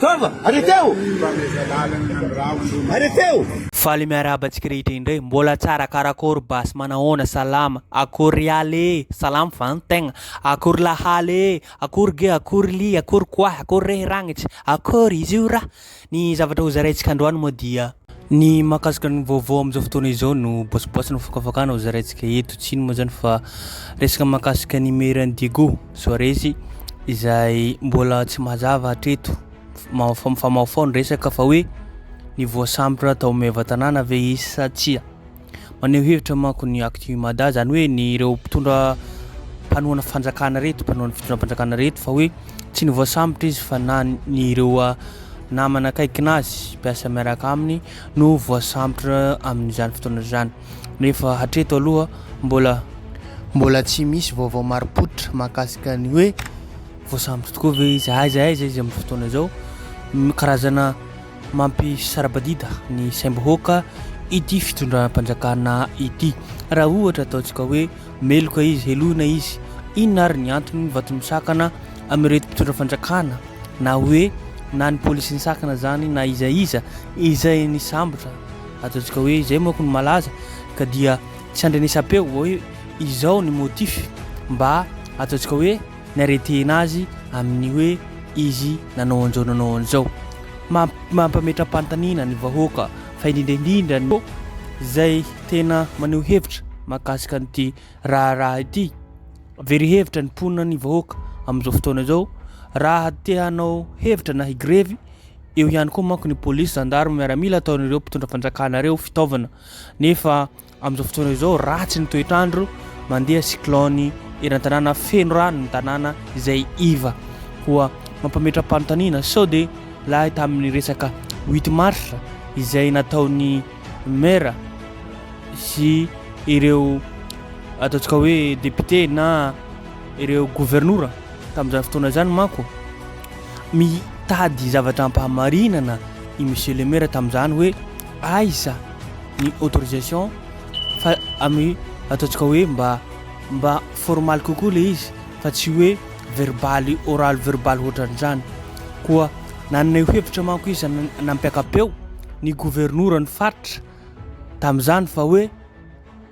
Taova! Arretez-o! Arretez-o! Faly miarahaba antsika rehetra indray. Mbola tsara karakôry basy manahoana salama akory rialy ee salama va ny tegna akory lahaly ee akory ge akory lia akory koahy akory rehy ragnitry akory izy io ra ny zavatra ho zaraintsika androany moa dia ny mahakasika ny vaovao amin'izao fotoana izao no bôsibôsy no fakafakana ho zaraintsika eto tsy ino moa zany fa resaka mahakasika ny mairie an'i Diego. Soaresy izay mbola tsy mazava hatreto mifamaofao ny resaka fa hoe ny voasambotra tao Meva Tanàna ve izy sa tsia. Maneho hevitra manko ny Actu Mada izany hoe ny ireo mpitondra mpanohana fanjakana reto, mpanohana fitondram-panjakana reto fa hoe tsy ny voasambotra izy fa na ny ireo ah, namana akaikina azy, mpiasa miaraka aminy no voasambotra amin'izany fotoana izany. nefa hatreto aloha mbola mbola tsy misy vaovao marim-pototra mahakasika ny hoe voasambotra tokoa ve izy, aiza aiza izy amin'ny fotoana izao. Karazana mampisara-badida ny saim-bahoaka ity fitondram-panjakana ity. Raha ohatra ataontsika hoe meloka izy, helohina izy, inona ary ny antony ny vato misakana amin'ireto mpitondra fanjakana na hoe na ny polisy nisakana izany na iza iza izay nisambotra. Ataontsika hoe izay manko no malaza ka dia tsy andrenesam-peo vao hoe izao ny motif mba ataontsika hoe niaretehina azy amin'ny hoe izy nanao an'izao nanao an'izao. Mampametram-panontaniana ny vahoaka fa indrindra indrindra no izay tena maneho hevitra mahakasika an'ity raharaha ity. Very hevitra ny mponina ny vahoaka amin'izao fotoana izao raha te hanao hevitra na higrevy. Eo ihany koa manko ny polisy, zandary, miaramila ataon'ireo mpitondra fanjakana ireo fitaovana. Nefa amin'izao fotoana izao ratsy ny toetr'andro, mandeha cyclone eran-tanàna, feno rano ny tanàna izay iva. Koa mampametra-panontaniana sao dia lahy tamin'ny resaka 8 mars izay nataon'ny maire sy ireo ataontsika hoe député na ireo governora. Tamin'izany fotoana izany manko, mitady zavatra hampahamarinana i Monsieur le Maire tamin'izany hoe aiza ny autorisation fa amin'ny ataontsika hoe mba mba formaly kokoa ilay izy fa tsy hoe verbaly oraly verbaly hoatran'izany. Koa nanana io hevitra manko izy nampiaka-peo ny governoran'ny faritra tamin'izany fa hoe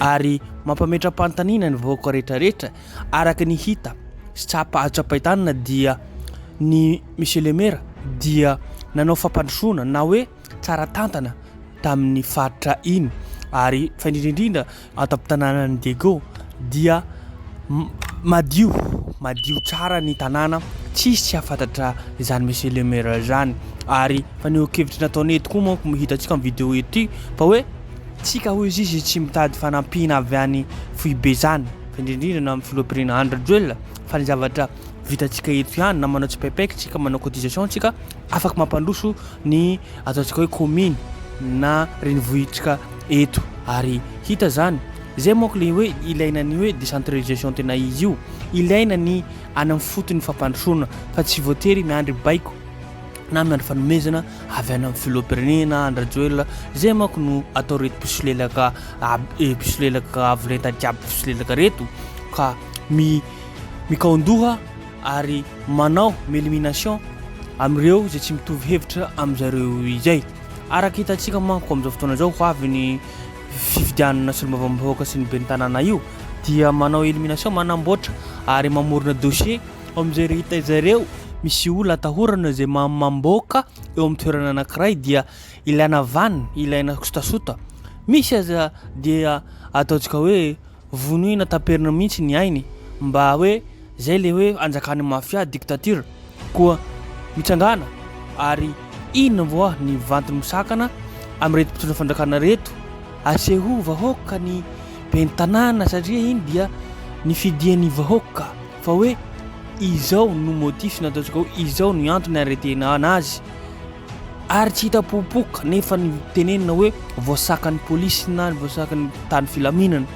Ary mampametra-panontaniana ny vahoaka rehetrarehetra araka ny hita sy tsapa azo tsapain-tanana dia ny Monsieur le Maire dia nanao fampandrosoana na hoe tsara tantana tamin'ny faritra iny ary fa indrindra indrindra ato am-tanànan'i Diego dia madio, madio tsara ny tanàna, tsisy tsy hafantatra izany Monsieur le Maire izany ary fanehoan-kevitra nataony eto koa manko hitantsika amin'ny vidéo ity fa hoe tsika hoy izy izy tsy mitady fanampiana avy any foibe izany fa indrindra indrindra na amin'ny filoham-pirenena Andry Rajoelina fa ny zavatra vitantsika eto ihany na manao tsipaipaika tsika manao cotisation tsika Afaka mampandroso ny ataontsika hoe kominy na renivohitrka eto ary hita zany zay manko le hoe ilaina ny hoe décentralisation tena izy io ilaina ny any amin'ny fotony fampandrosoana fa tsy voatery miandry baiko na miandry fanomezana avy any amin'ny filoham-pirenena Andrajoelina zay manko no atao reto mpisolelaka eh, mpisolelaka avolenta jiaby mpisolelaka reto ka mi mikaondoha ary manao m'elimination amin'ireo izay tsy mitovy hevitra amin-dry zareo izay. Araka hitantsika manko amin'izao fotoana izao ho avy ny fifidianana solombavambahoaka sy ny ben'ny tanàna io dia manao elimination, manamboatra ary mamorona dossier eo amin'izay rehetra zareo misy olona atahorana izay mamboaka eo amin'ny toerana anankiray dia ilaina vaniny, ilaina sotasota. Misy aza dia ataontsika hoe. Vonoina taperina mihintsy ny ainy mba hoe zay le hoe anjakan'ny mafia, dictature, koa mitsangana ary inona moa ny vantiny misakana amin'ireto mpitondra fanjakana reto aseho vahoaka ny ben'ny tanàna satria iny dia nifidian'ny vahoaka. fa hoe izao no motif nataontsika hoe izao no antony aretena anazy ary tsy hita popoka nefa ny tenenina hoe voasakan'ny polisy na ny voasakan'ny tany filaminana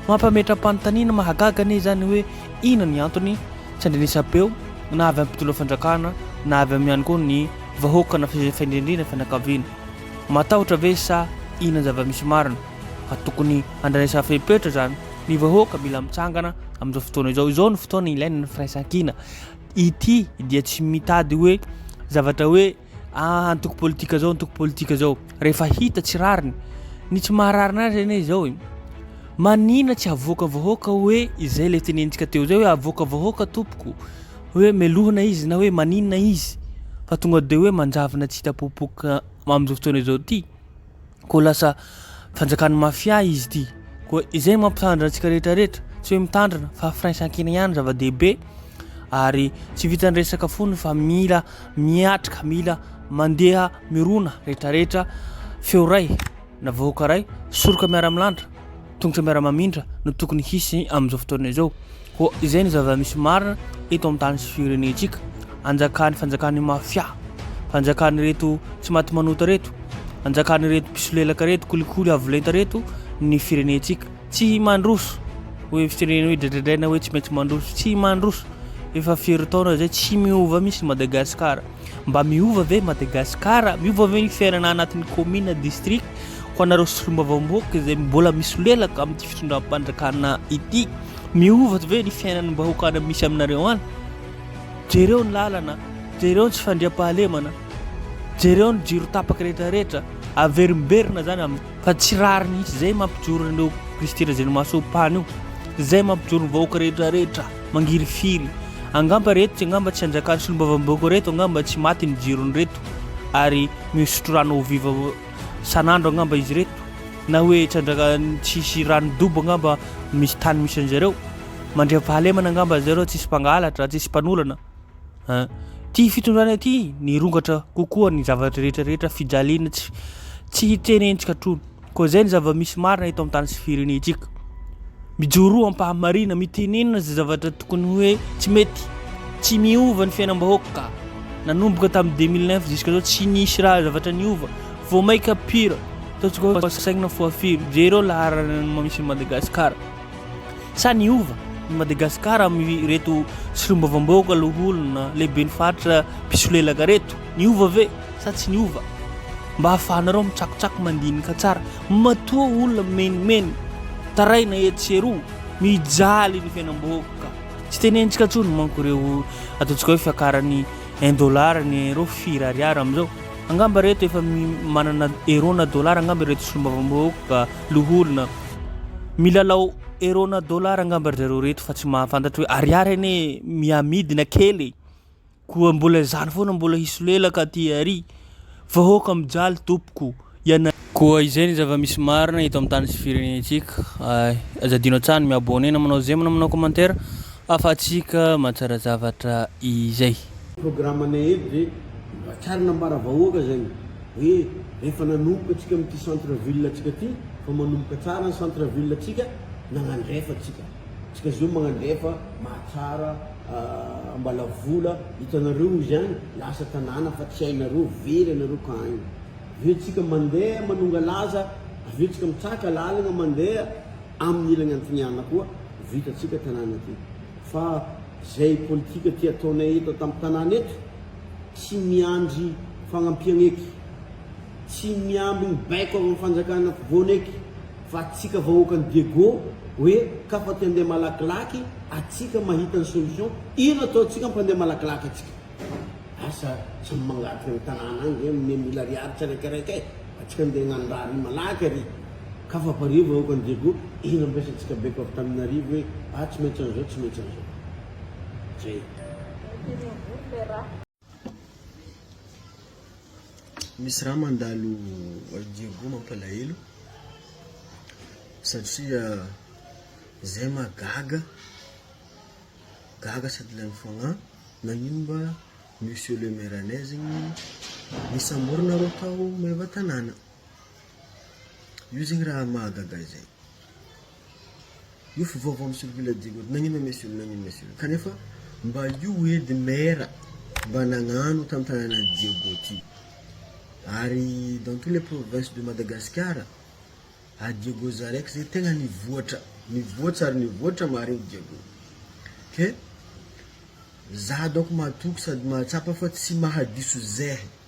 mampametra-panontaniana mahagaga anie izany hoe ina ny antony tsy andrenesam-peo na avy amin'ny mpitondra fanjakana na avy amin'ny ihany koa ny vahoaka na faindrendrena fianakaviana matahotra ve sa ina zava-misy marina fa tokony andrenesam-fepetra izany Ny vahoaka mila mitsangana amin'izao fotoana izao. Izao no fotoana ilaina ny firaisankina. Ity dia tsy mitady hoe zavatra hoe ah, antoko politika izao, antoko politika izao. Rehefa hita tsy rariny, ny tsy mahararina azy anie izao e. Manina tsy havoaka vahoaka hoe izay ilay tenenintsika teo izay hoe havoaka vahoaka tompoko. Hoe melohina izy na hoe manina izy. Fa tonga dia hoe manjavona tsy hita popoka amin'izao fotoana izao ity. koa lasa fanjakan'ny mafia izy ity. Koa izay mampitandrina antsika rehetra rehetra, tsy hoe mitandrina fa firaisankina ihany zava-dehibe ary tsy vitan'ny resaka foana fa mila miatrika, mila mandeha mirona rehetra rehetra, feo ray na vahoaka ray, soroka miara-milanitra. Tongotra miara-mamindra no tokony hisy amin'izao fotoana izao. Koa izay ny zava-misy marina eto amin'ny tany sy firenentsika. Anjakan'ny fanjakan'ny mafia. Fanjakan'ireto tsy maty manota ireto. Anjakan'ireto mpisolelaka ireto, kolikoly avo lenta ireto ny firenentsika. Tsy mandroso. Hoe firenena hoe dradradraina hoe tsy maintsy mandroso. Tsy mandroso. Efa firy taona izay tsy miova mihitsy Madagasikara. Mba miova ve Madagascar? Miova ve ny fiainana anatin'ny commune, district? Ho anareo solombavamboaka izay mbola misolelaka amin'ity fitondram-panjakana ity, miova ve ny fiainan'ny vahoaka any misy aminareo any? Jereo ny lalana, jereo ny tsy fandriampahalemana, jereo ny jiro tapaka rehetra rehetra, averimberina zany amin'ny Fa tsy rariny mihitsy izay mampijoro an'ireo Kristy Razenomasom-pany io, izay mampijoro ny vahoaka rehetra rehetra mangirifiry. Angamba ireto tsy angamba tsy hanjakan'ny solombavambahoaka ireto angamba tsy maty ny jirony ireto ary misotro rano ao viva san'andro angamba izy ireto na hoe tsy hanjakan'ny tsisy rano dobo angamba misy tany misy an'izareo mandriam-pahalemana angamba zareo tsisy mpangalatra tsisy mpanolana Ity fitondrana ity nirongatra kokoa ny zavatra rehetra rehetra fijaliana tsy tsy hiteny ny tsikatrony. Koa izay ny zava-misy marina eto amin'ny tany sy firenentsika. Mijoroa am-pahamarina, mitenena izay zavatra tokony hoe tsy mety, tsy miova ny fiainam-bahoaka. Nanomboka tamin'ny 2009 ziskazao tsy nisy raha zavatra niova, vao maika pire, ataontsika hoe saigna foafiro, jereo laharana misy Madagasikara. Sa niova i Madagasikara amin'ireto solombavambahoaka loholona lehiben'ny faritra mpisolelaka reto? Niova ve sa tsy niova? Mba ahafahanareo mitsakotsako mandinika tsara. Matoa olona mimenomenona, taraina etsy sy eroa, mijaly ny fiainam-bahoaka. Tsy tenentsika intsony manko ireo ataontsika hoe fiakaran'ny un dollar, ny euro firy ariary amin'izao. Angamba ireto efa manana euro na dollar angamba ireto solombavambahoaka. Loholona. Milalao euro na dollar angamba ry zareo reto fa tsy mahafantatra hoe ariary anie mihamidina kely e! Koa mbola izany foana mbola hisolelaka aty ary! Vahoaka mijaly tompoko! Ianareo. Koa izay ny zava-misy marina eto amin'ny tany sy firenentsika. Ay. Aza adino an-tsaha ny mi-abonner na manao j'aime na manao commentaire ahafahantsika mahatsara zavatra izay. Programme-nay eto dia voakarina ambara vahoaka izany Hoe efa nanomboka tsika amin'ity centre ville tsika ity fa manomboka tsara ny centre ville tsika nagnandrefa tsika tsika zao magnandrefa mahatsara ambalavola hitanareo ozy any lasa tanàna fa tsy hainareo very anareo ka aigna aveo tsika mandeha manongalaza aveo tsika mitsaka lalagna mandeha amin'ny ilagna antignana koa vita tsika tanàna ty fa zay politika ty ataonay eto tam'tanàna eto tsy miandry fagnampiagna eky, tsy miambigny baiko avy am fanjakana afovoany eky fa atsika vahoakan'i Diego hoe kafa te andeha malakilaky atsika mahita ny solution, ino ataontsika mpandeha malakilaky atsika? Asa samy mangataka ny tanàna agny zay ame mille ariary tsiraikaraika e, atsika andeha hagnano raha ary malaky ary kafa pare vahoakan'i Diego, ino ampiasantsika baiko avy taminarivo hoe ah tsy maintsy an'izao tsy maintsy an'izao? Misy raha mandalo ry Diego mampalahelo satria zay mahagaga gaga sady lany fagnahy nagnino mba monsieur le maire anay zegny nisamborana reo tao maevatanàna io zegny raha mahagaga zay Io fivaovao mi circule dy goutte nagnino ma monsieur nagnino monsieur kanefa mba io edy maire mba nagnano tam tanana Diego ty ary dans tous les provinces de Madagascar a Diego za raiky zay tegna nivoatra nivoatsa ary nivoatra marigny Diego ke za donko matoky sady mahatsapa fa tsy mahadiso zehe.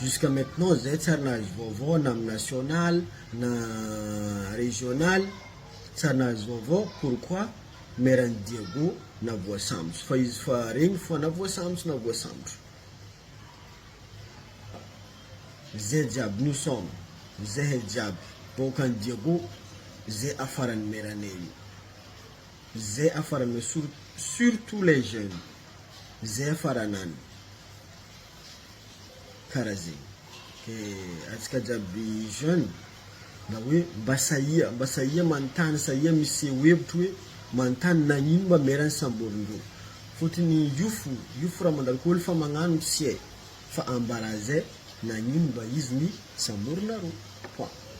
Jusqu'à maintenant zay tsy ary nahazo vaovao na amin'ny national na regional tsy ary nahazo vaovao pourquoi maire an'i Diago na voasambotry fa izy fa regny fa na voasambotry na voasambotry zay jiaby nous sommes zahay jiaby vahoakan'i Diago zay afaran'ny maire anay io zay afaranao sur surtout les jeunes zay afaranany. kara zegny ke antsika jiaby jeune mba hoe mba sahia mba sahia manontany sahia miseho hevitry hoe manontany nagnino mba mera samborindreo fôtiny io fo io fo raha mandalo ko olo fa magnano tsy hay fa ambara zay nagnino mba izy ny samborinareo point.